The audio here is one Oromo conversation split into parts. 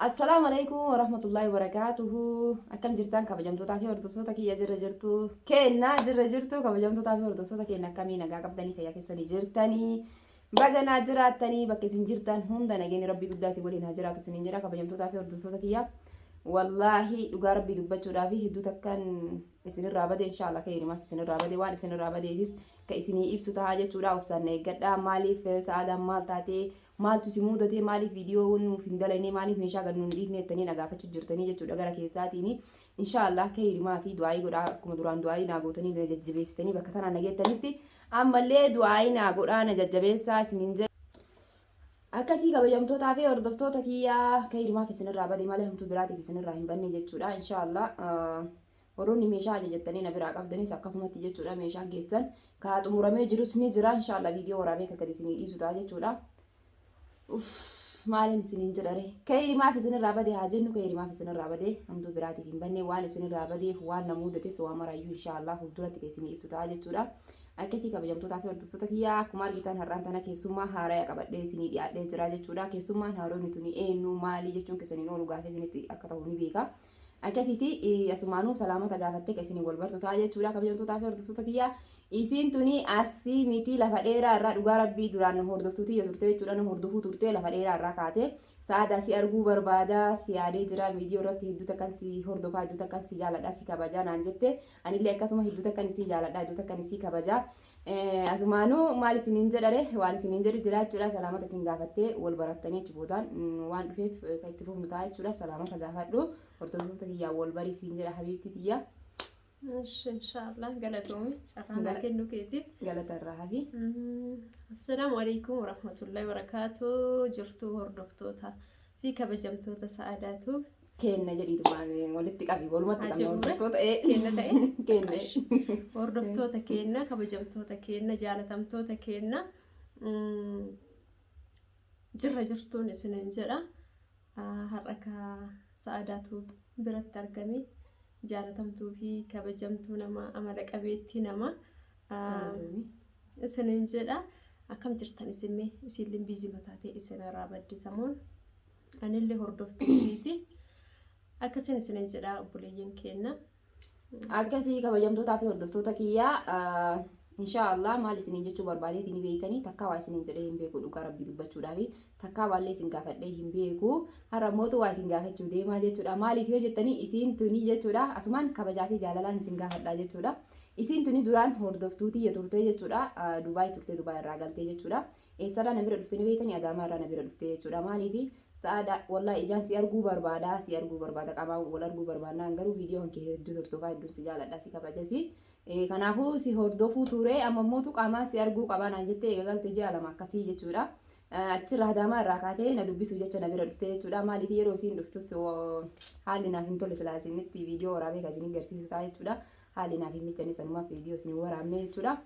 Assalaamu alaikum warahmatullahi wabarakaatuhu. Akkam jirtan kabajamtootaa fi hordoftoota kiyya jirra jirtu keenna jirra jirtu kabajamtootaa fi hordoftoota keenna akkamii nagaa qabdanii fayyaa keessanii jirtanii baga naa jiraattanii bakka isin jirtan hunda nageenyi rabbii guddaa isin waliin haa jiraatu isiniin jedha kabajamtootaa fi hordoftoota kiyya. Wallaahi dhugaa rabbii dubbachuudhaaf hedduu takkan isinirraa bade inshaallah keeyrimaaf isinirraa bade waan isinirraa badeefis ka isinii ibsu tahaa jechuudha obsaan na eeggadha maaliif sa'aadaan maal taatee Maaltu si muudatee maaliif viidiyoo nuuf hin dalaynee maaliif meeshaa gad nu hin dhiifnee jettanii na gaafachuu jirtanii jechuudha gara keessaatiini. Inshaa Allah keyri maafi du'aayii godhaa akkuma duraan du'aayii naa gootanii na jajjabeessitanii bakka tanaan na geettanitti ammallee du'aayii naa godhaa na jajjabeessaa isiniin jedha. Akkasii kabajamtootaa fi hordoftoota kiyyaa keyri maaf isinirraa bade malee hamtuu biraatiif isinirraa hin banne jechuudha. Inshaa Allah Warroonni meeshaa ajajattanii na biraa qabdanis akkasumatti jechuudha meeshaan keessan kaa xumuramee jirus ni jira inshaallah viidiyoo waraabee ka gadi isinii dhiisu ta'a jechuudha. Uff maaliin isiniin jedhare kayri maaf isinirraa badee haa jennu kayri maaf isinirraa badee hamtuu biraatiif hin banne waan isinirraa badeef waan na muudates waan maraayyuu inshaallah fuulduratti ka isinii ibsu ta'a jechuudha. Akkasii kabajamtootaa fi hordoftoota kiyyaa akkuma argitan har'aan tana keessummaa haaraya qabadhee isinii dhiyaadhee jira jechuudha. Keessummaan haaroonni tuni eenyu maali jechuun keessaniin oolu gaafee isinitti akka ta'u ni beeka. Akkasiti asumaanuu salaamata gaafattee ka isin wal bartu ta'a jechuudha kabajamtootaa fi hordoftoota kiyyaa. Isiin tuni asii miti lafa dheeraa irraa dhugaa rabbii duraan hordoftuu tiyya turte jechuudha na hordofuu turte lafa dheeraa irraa kaate. Sa'aadaa si arguu barbaada si yaadee jira viidiyoo irratti hedduu takkan si hordofaa hedduu takkan si jaaladha si kabajaa naan jette anillee akkasuma hedduu takkan isii jaaladha hedduu takkan isii kabajaa. Asumaanuu maal isiniin jedhare waan isiniin jedhu jiraachuudha salaamata isin gaafattee wal barattanii achi boodaan waan dhufeef kan itti fufnu ta'a jechuudha salaamata gaafadhu hordoftoota kiyyaa wal barii siin jedha habiibtii tiyyaa. Inshallah galatoomi carraa kennu keetiif. Galatarraa hafi. Assalaamu alaikum warahmatullahi wabarakaatu jirtuu hordoftoota fi kabajamtoota sa'aadaatu. Keenna jedhii dubbaa walitti qabi walumatti Haa qabna jirru ree? hordoftoota ee Keenna ta'e? keenna Qash. hordoftoota keenna kabajamtoota keenna jaalatamtoota keenna mm, jirra jirtuun isiniin jedha Ah, har'a ka sa'aadaatu biratti argame jaalatamtuu fi kabajamtuu nama amala qabeettii nama Ah, isiniin jedha akkam jirtan isinme isinlin biizii mataa ta'e isinirraa badde samoon anillee hordoftuu isiiti akkasiin isinin jedhaa obboleeyyan keenna akkasii kabajamtootaa fi hordoftoota kiyyaa ah, inshaa Allah maal isiniin jechuu barbaadeeti ni beektanii takkaa waa isiniin jedhee hin beeku dhugaa rabbii dubbachuudhaa fi takkaa waallee isin gaafadhee hin beeku har'a mootu waa isin gaafachuu deemaa jechuudha maaliif yoo jettanii isiin tunii jechuudha asumaan kabajaa fi jaalalaan isin gaafadhaa jechuudha isiin tunii duraan hordoftuutii turtee jechuudha ah, Dubaay turtee Dubaay irraa galtee jechuudha Eessarraa na bira dhufte ni beektanii Adaamaarraa na bira dhufte jechuudha. Maaliif sa'aada wallaahi ijaan si arguu barbaada si arguu barbaada qaamaan wal arguu barbaannaan garuu viidiyoo kan kee hedduu hordofaa hedduun si jaaladha si kabajasi. Kanaafuu si hordofuu ture amma mootu qaamaan si arguu qabaa naan jettee eega galte ji'a lama akkasii jechuudha. Achirraa Adaamaa irraa kaatee na dubbisuu jecha na bira dhufte jechuudha. Maaliif yeroo isiin dhuftus haalli naaf hin tolle silaa isinitti viidiyoo waraabee kan isin garsiisu ta'a jechuudha. Haalli naaf hin mijjanne sanumaaf viidiyoo isin waraabne jechuudha.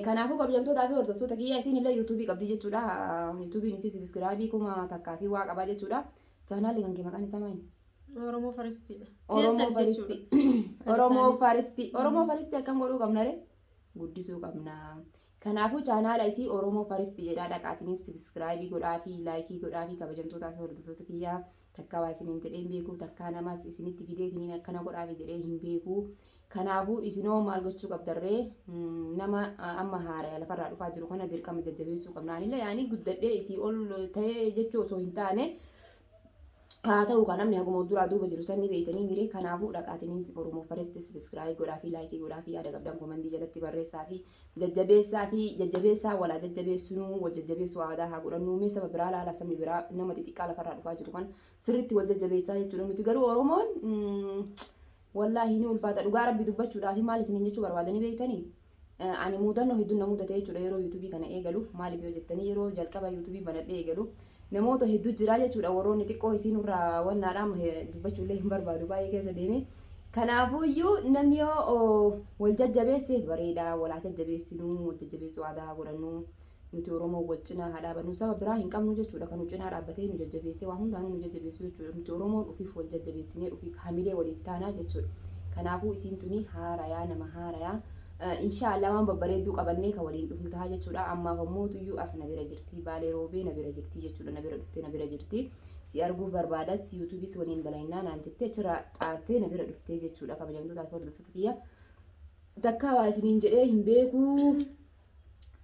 Kanaafuu kabajamtootaa fi hordoftoota kiyyaa isiin illee yuutuubii qabdii jechuudha. Yuutuubiin isii sibiskiraabii kuma takkaa fi waa qabaa jechuudha. Chaanaalli kan kee maqaan isaa maali? Oromoo faristiidha. Oromoo faristi. Oromoo faristi. Oromoo faristi akkam godhuu qabna ree? Guddisuu qabna. Kanaafuu chaanaala isii Oromoo faristi jedhaa dhaqaatiniin sibiskiraabii godhaa fi laayikii godhaa fi kabajamtootaa fi hordoftoota kiyyaa. Takkaa waa isiniin jedhee hin beeku, takkaa namas isinitti fideetiniin akkana godhaafi jedhee hin beeku. Kanaafuu isinoo maal gochuu qabdarree nama amma haaraya lafarraa dhufaa jiru kana dirqama jajjabeessuu qabna. Anillee yaanii guddadhee isii ol ta'ee jechuu osoo hin taane haa ta'u kan namni haguma duraa duuba jiru sanni beeytanii miree kanaafuu dhaqaatiniin Oromoo First subscribe godhaa fi laayikii godhaa fi yaada qabdan komandii jalatti barreessaa fi Jajjabeessaa fi jajjabeessaa wal haa jajjabeessinuu, wal jajjabeessuu aadaa haa godhannuu. Mee saba biraa laala, sabni biraa nama xixiqqaa lafarraa dhufaa jiru kan sirriitti wal jajjabeessaa jechuudha. Nuti garuu Oromoon wallaahi ni ulfaata dhugaa rabbi dubbachuudhaa fi maal isiniin jechuu barbaadanii beektanii? Ani muudannoo hedduun na muudate jechuudha yeroo yuutuubii kana eegalu. Maaliif yoo jettanii yeroo jalqaba yuutuubii banadhee eegalu namoota hedduu jiraa jechuudha warroonni xiqqoo isiin irraa wannaadha amma he- dubbachuullee hin barbaadu baay'ee keessa deeme kanaafuuyyuu namni yoo oo, wal jajjabeesse bareeda wal haa jajjabeessinuu wal jajjabeessuu aadaa haa godhannuu nuti oromoo wal cinaa haa dhaabannuu saba biraa hin qabnu jechuudha kan nu cinaa dhaabbatee nu jajjabeessee waa hundaanuu nu jajjabeessu jechuudha nuti oromoon ufiif wal jajjabeessinee ufiif hamilee waliif taanaa jechuudha kanaafuu isiin tuni haarayaa nama haarayaa Inshaa Allah waan babbareedduu qabannee ka waliin dhufnu tahaa jechuudha. Ammaaf ammoo tuyyuu as na bira jirti. Baalee roobee na bira jirti jechuudha. Na bira dhuftee na bira jirti. Si arguuf barbaadas si yuutuubis waliin dalaynaa naan jettee achirraa xaartee na bira dhuftee jechuudha. Kabajamtoota fi hordoftoota kiyya. Takkaa waa isiniin jedhee hin beeku.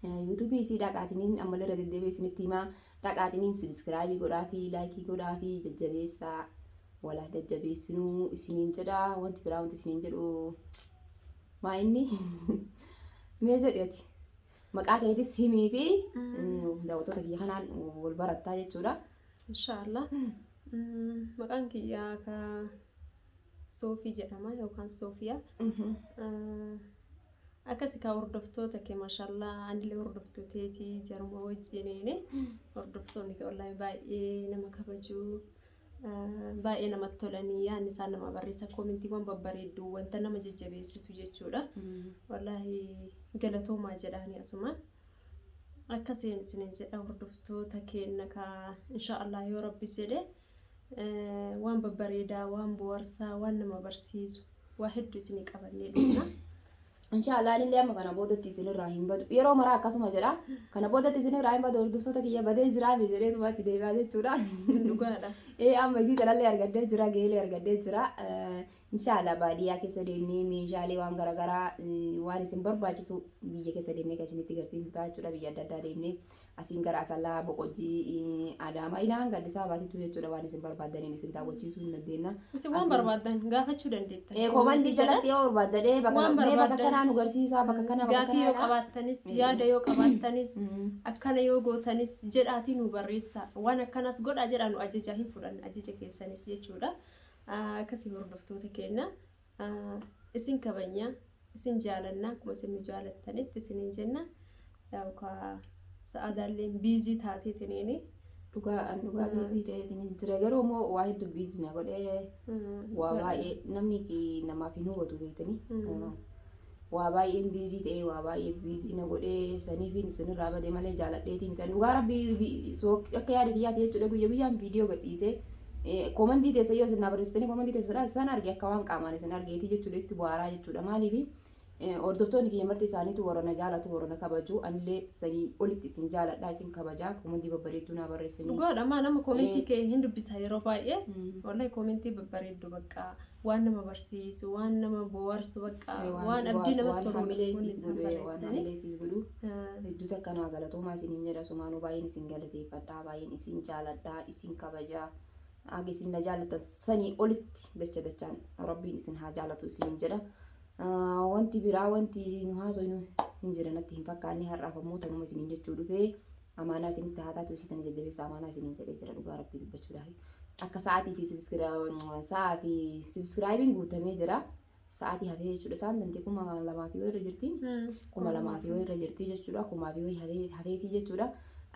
Yuutuubii isii dhaqaatiniin ammallee irra deddeebi'ee isinitti himaa. Dhaqaatiniin sabiskiraabii godhaa fi laayikii godhaa fi jajjabeessaa. Walaa jajjabeessinuu isiniin jedha. Wanti biraa wanti isiniin jedhu Maa inni mee jedhi ati maqaa keetis himii fi daawwattoota kiyya kanaan wal barattaa jechuudha. Inshaallah. Maqaan kiyya ka Soofii jedhama yookaan Soofiyaa. Akkasi kaa hordoftoota kee maashaallah anillee hordoftuu teeti jaruma wajjiniin hordoftoonni kee wallahi baay'ee nama kabajuu. Baay'ee namatti tolanii yaadni isaan namaa barreessan koomentiiwwan babbareedduu wanta nama jajjabeessitu jechuudha. Wallaahi galatoomaa jedhaanii asumaan. Akka seen isinin jedha hordoftoota keenna kaa inshaa Allah yoo rabbi jedhe waan babbareedaa waan boharsaa waan nama barsiisu waa hedduu isinii qabannee dhufna. Inshaallah anillee amma kana boodatti isinirraa hin badu. Yeroo maraa akkasuma jedha. Kana boodatti isinirraa hin badu hordoftoota kiyya badee jiraa mee jedhee duuba achi deebi'aa jechuudha. Dhugaadha. Ee amma isii kanallee argadhee jira geelee argadhee jira. Inshaallah baadiyyaa keessa deemnee meeshaalee waan garaagaraa waan isin barbaachisu biyya keessa deemnee kan isinitti garsiifnu ta'a jechuudha biyya adda addaa deemnee. Asiin gara Asallaa, Boqojjii, Adaamaa ilaa hanga Addis Ababaatittuu jechuudha waan isin barbaaddaniin isin daawwachiisuu hin dandeenna. Isin waan barbaaddan gaafachuu dandeettan. Ee komantii jalatti yoo barbaaddan ee bakka Waan mee bakka barbaaddan. kanaa nu garsiisaa bakka kanaa bakka Gaafii yoo kanaa. qabaattanis, Mm. yaada yoo qabaattanis, Mm. akkana yoo gootanis jedhaatii nu barreessaa. Waan akkanas godhaa jedhaa nu ajajaa hin fudhanna ajaja keessanis jechuudha. Ah, Akkasii hordoftoota keenya. Isin kabanya, isin jaalanna akkuma isin nu jaalattanitti isiniin jenna. Yaa'u kaa sa'aadaalleen biizii taateetiniini. Dhugaa an dhugaa biizii ta'eetiin jira garuu immoo waa hedduu biizii na godhee waa baay'ee namni namaaf hin hubatu beektanii. waa baay'een biizii ta'ee waa baay'ee biizii na godhee saniifiin isinirraa bade malee jaaladheetii mitan dhugaa rabbii akka yaada kiyyaati jechuudha guyya guyyaan viidiyoo gadhiisee koomantii teessa yoo isin naa barreessitanii koomantii teessa san arge akka waan qaamaan isin argeetii jechuudha itti bu'aaraa jechuudha maaliifi hordoftoonni kiyya marti isaaniitu warra na jaalatu warra na kabaju anillee sanii olitti isin jaaladha isin kabaja koomantii babbareedduu naa barreessanii. Dhugaadha maa nama koomentii kee hin dubbisa yeroo baay'ee. Wallahi koomentii babbareeddu baqqaa. waan nama barsiisu waan nama bohaarsu bakka Eh, waan waan si abdii bohaarsu, namatti waan tolu hamilee kun siif isaan godhu, eh, waan barreessanii. hamilee siif godhu. Ah, Hedduu takka naa galatoomaa isiniin jedha sumaanuu baay'een isin galateeffadha baay'een isin jaaladha isin kabaja haga isin na jaalatan sanii olitti dacha dachaan rabbiin isin haa jaalatu isiniin jedha Ah, wanti biraa wanti nu haasofnu hin jira natti hin fakkaanne har'aaf ammoo tanuma isiniin jechuu dhufee Amaanaa isinitti haa taatu isiitan jajjabeessa amaanaa isiniin jedhee jira dhugaa rabbii dubbachuudhaaf. Akka sa'aatii fi sa'aa fi sibskiraayibiin guutamee jira. Sa'aatii hafee jechuudha isaan dantii kuma lamaa fi wayirra jirti. Kuma lamaa fi wayirra jirti jechuudha kumaa fi wayii hafeetii jechuudha.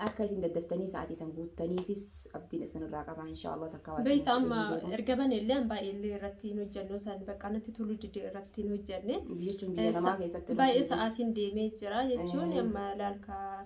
Akka isin daddaftanii sa'aatii san guuttaniifis abdiin isinirraa qabaa inshaallah takka waa Beekta amma erga bane illee an baay'ee illee irratti hin hojjanne osaan bakka natti toluu didee irratti hin hojjanne. Jechuun biyya namaa keessatti. Baay'ee sa'aatiin deemee jira jechuun amma laalkaa.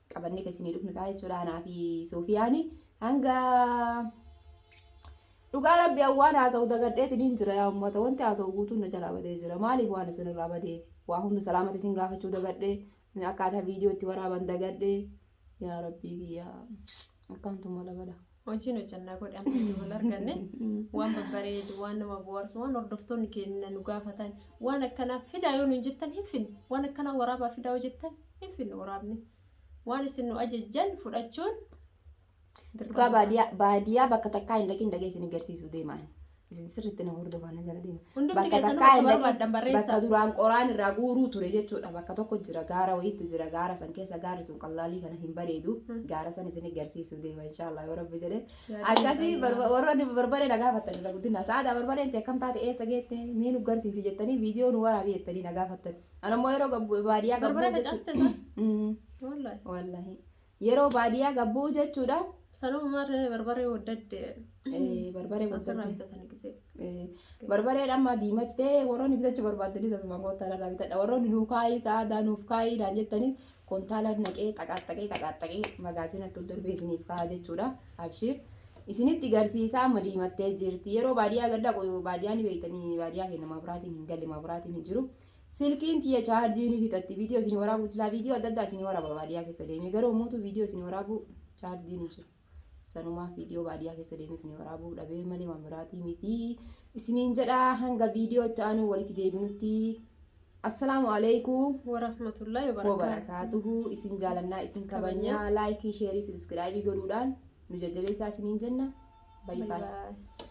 qabannee kan isinii dhufnu ta'a jechuudha anaa fi Soofiyaani hanga dhugaa rabbi waan haasa'u dagadheetiin hin jira yaa ummata wanti haasa'u guutuun na jalaa badee jira maaliif waan isin irraa badeef waa hunda salaamata isin gaafachuu dagadhee akkaataa viidiyootti waraaban dagadhee yaa rabbii kiyyaa akkaantu mala bala. Hojiin hojjannaa godhe amma iyyuu wal arganne waan babbareedu waan nama bohaarsu waan hordoftoonni keenya nu gaafatan waan akkanaa fidaa yoo nuun jettan hin finne waan akkanaa waraabaa fidaa yoo jettan hin finne waraabne waan isin nu ajajjan fudhachuun Dhugaa baadiyaa baadiyaa bakka takkaa hin dhaqin dhaqee isin agarsiisuu deemaan. Isin sirriitti na hordofaa na jala deema. Hundumti Bakka keessanuu takkaa bakka hin dhaqin. barbaaddan barreessaa. Bakka duraan qoraan irraa guuruu ture jechuudha. Bakka tokko jira gaara wayiitti jira gaara san keessa gaarri sun qallaalii kana hin bareedu. Hmm. Gaara san isin garsiisuu deema inshaallah yoo rabbi jedhe. Yaadni Akkasii baay'ee barba- waan- warroonni barbaree na gaafattan irra guddinaa. Sa'aadaa barbareen ta'e kam taate eessa geette mee nu garsiisi jettanii viidiyoo nu waraabi jettanii na gaafattan. Anammoo yeroo gabbu- baadiyyaa gabbuu Barbaree jechuudha. facaastee isaa? Mm, Wallaahi. Wallaahi. Yeroo baadiyyaa gabbuu jechuudha. Sanuma maarree barbaree waddadde. Eh, Barbaree Asirraa waddadde. bitatanii gisee. Eh, Barbaree dhamma diimattee warroonni bitachuu barbaaddanis asumaan kontaala irraa bitadha. Warroonni nuu kaayii sa'aadaa nuuf kaayii naan jettanis kontaala naqee xaqaaxaqee xaqaaxaqee magaazinatti ol darbee isiniif kaa'a jechuudha. Abshiir. Isinitti garsiisaa amma diimattee jirti. Yeroo baadiyyaa gad dhaqu baadiyyaa ni beektanii baadiyyaa keenya mabraatiin hin galle mabraatiin hin jiru. Silkiin tiyya chaarjii ni fixatti viidiyoo isin waraabuu silaa viidiyoo adda addaa isin waraaba baadiyyaa keessa deemee garuu ammuutu viidiyoo isin waraabuu chaarjii ni jiru. Sanumaaf viidiyoo baadiyyaa keessa deemee isin waraabuu dhabee malee waan biraatii miti isiniin jedha hanga viidiyoo itti aanuu walitti deebinutti assalaamu alaikum warahmatullahi wabarakaatu. wabarakaatuhu isin jaalannaa isin kabajnaa Kabajnaa. laayikii sheerii sabiskiraayibii godhuudhaan nu jajjabeessaa isiniin jenna Bye baay'ee. bye.